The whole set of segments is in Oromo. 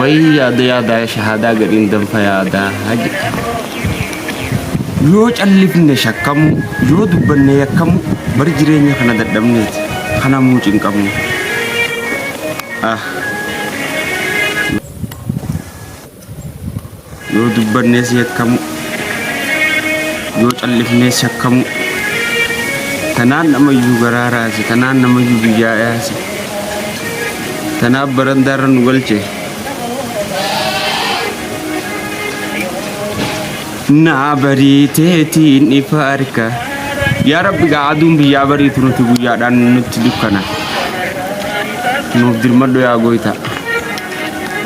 Wayii yaada yaadaa ya shahaadaa gadhiin danfa yaadaa haji. Yoo callifne shakkamu, yoo dubbanne yakkamu, bari jireenya kana dadhabneeti. Kana muu cinqamu. Ah. Yoo dubbannees yakkamuu, yoo callifnees yakkamuu. Tanaan namayyuu garaa raase, tanaan namayyuu biyyaa yaase. Tanaaf barandaarra nu galche. Naa bariiteetiin ifa arka. Yaa Rabbi gaa aduun biyyaa bariitu nuti guyyaadhaan nutti dukkana. Nuuf dirmadhu yaa gooytaa.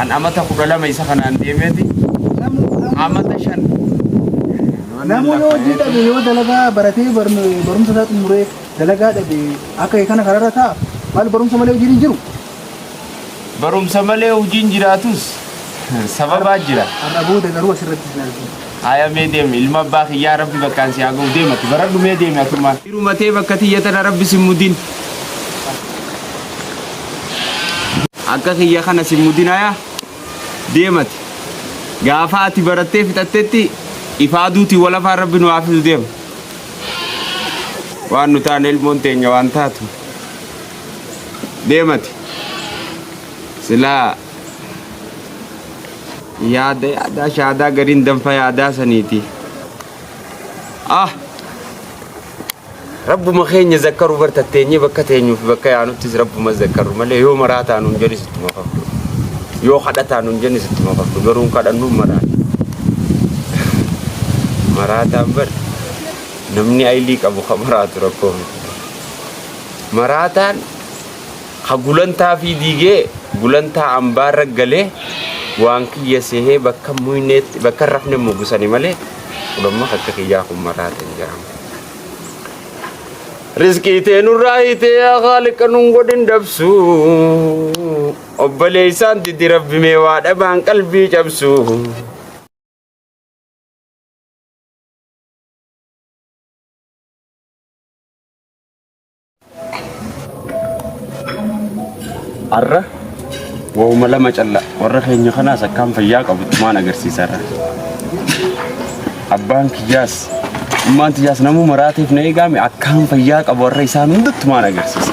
An amata kudha lama isa kanaan deemeeti amata shan Namni hojii dhabe yoo dalagaa baratee barno- barumsa isaa xumuree dalagaa dhabe akka kee kana kararra ta'a maal barumsa malee hojiin hin jiru. barumsa malee hojiin jiraatus sababaa jira. Har'a booda garuu asirratti ilaaltu. Haya mee deem ilma abbaa kiyyaa rabbi bakkaan si haa gahu deem ati baradhu mee deemi atumaan. Dhiruma tee bakka tiyya tana rabbi sin mudin. Akka kiyya kana sin mudin haya deem ati. Gaafa ati barattee fixattetti ifa aduutiin wal afaan rabbi nu haa fidu deem. Waan nu taane ilmoon teenya waan taatu. Deem ati. Silaa. yaada yaadaa shaadaa gariin danfa yaadaa saniiti ah rabbuma keenya zakkaru bar tatteenyee bakka teenyuuf bakka yaanuttis rabbuma zakkaru malee yoo maraa taanuun jedhis itti makafdu yoo kadha taanuun jedhis itti makafdu garuun kadhannuun maraa maraataan bar namni aylii qabu ka maraatu rakkoo miti maraataan Ka gulantaa fii diigee gulantaa ambaarra galee waan kiyya seehee bakka hin muyneetti bakka hin rafne mugu sani malee ulomma ka akka kiyyaa kun maraate hin jiramu. Rizqii tee nurraa hiitee yaa khaaliqa nun godhin dabsu obboleeysaan didi rabbi mee waa dhabaan qalbii cabsu. Har'a waa'uma lama calla warra keenya kanaas akkaan fayyaa qabutti maan agarsiisarra. Abbaan kiyyaas ummaan tiyyaas namuu maraateef na eegaame akkaan fayyaa qabu warra isaan hundatti maan agarsiisa.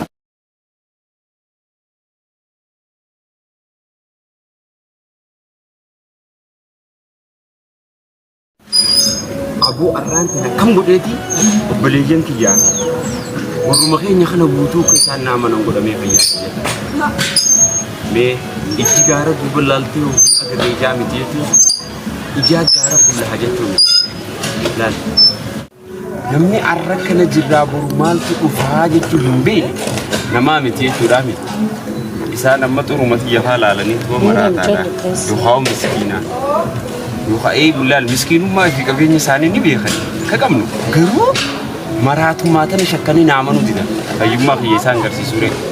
Aboo arraan tana kam godheeti obboleeyyan kiyyaa warruma keenya kana guutuu akka isaan naa manan godhamee fayyaa mee ijji gaara duuba laaltee yoo agarree ijaa miti jechuun ijaa gaara fuula haa jechuun laal Namni har'a kana jirraa boru maaltu dhufaa jechuu hin beekne namaa miti jechuudhaa miti. Isaan amma xuruma tiyya faa laalanii tuma maraataadha. Yookaan miskiinaa. Yookaan eegu laal miskiinummaa fi qabeenya isaanii ni beekan. Ka qabnu garuu maraatummaa tana shakkanii naamanuu didan. Fayyummaa kiyya isaan garsiisuu reefu.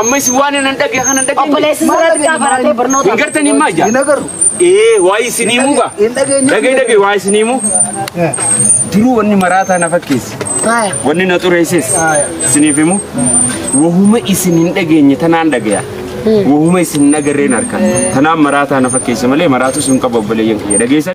Amma isin waan hin dhagge kan hin dhagge. Obboleessi sirraa xiqqaa baratee barnoota. Hin gartan hin maajja. Hin agarru. Ee waa isin himuu gaa. Hin dhageenye. Dhagee dhagee waa isin himuu. Jiruu wanni maraataa na fakkeessi. Wanni na xureesses. Isiniif himuu. Wahuma isin hin dhageenye tanaan dhagaya. Wahuma isin hin agarreen harka. Tanaan maraataa na fakkeessa malee maraatus hin qabu obboleeyyan kiyya. Dhageessan.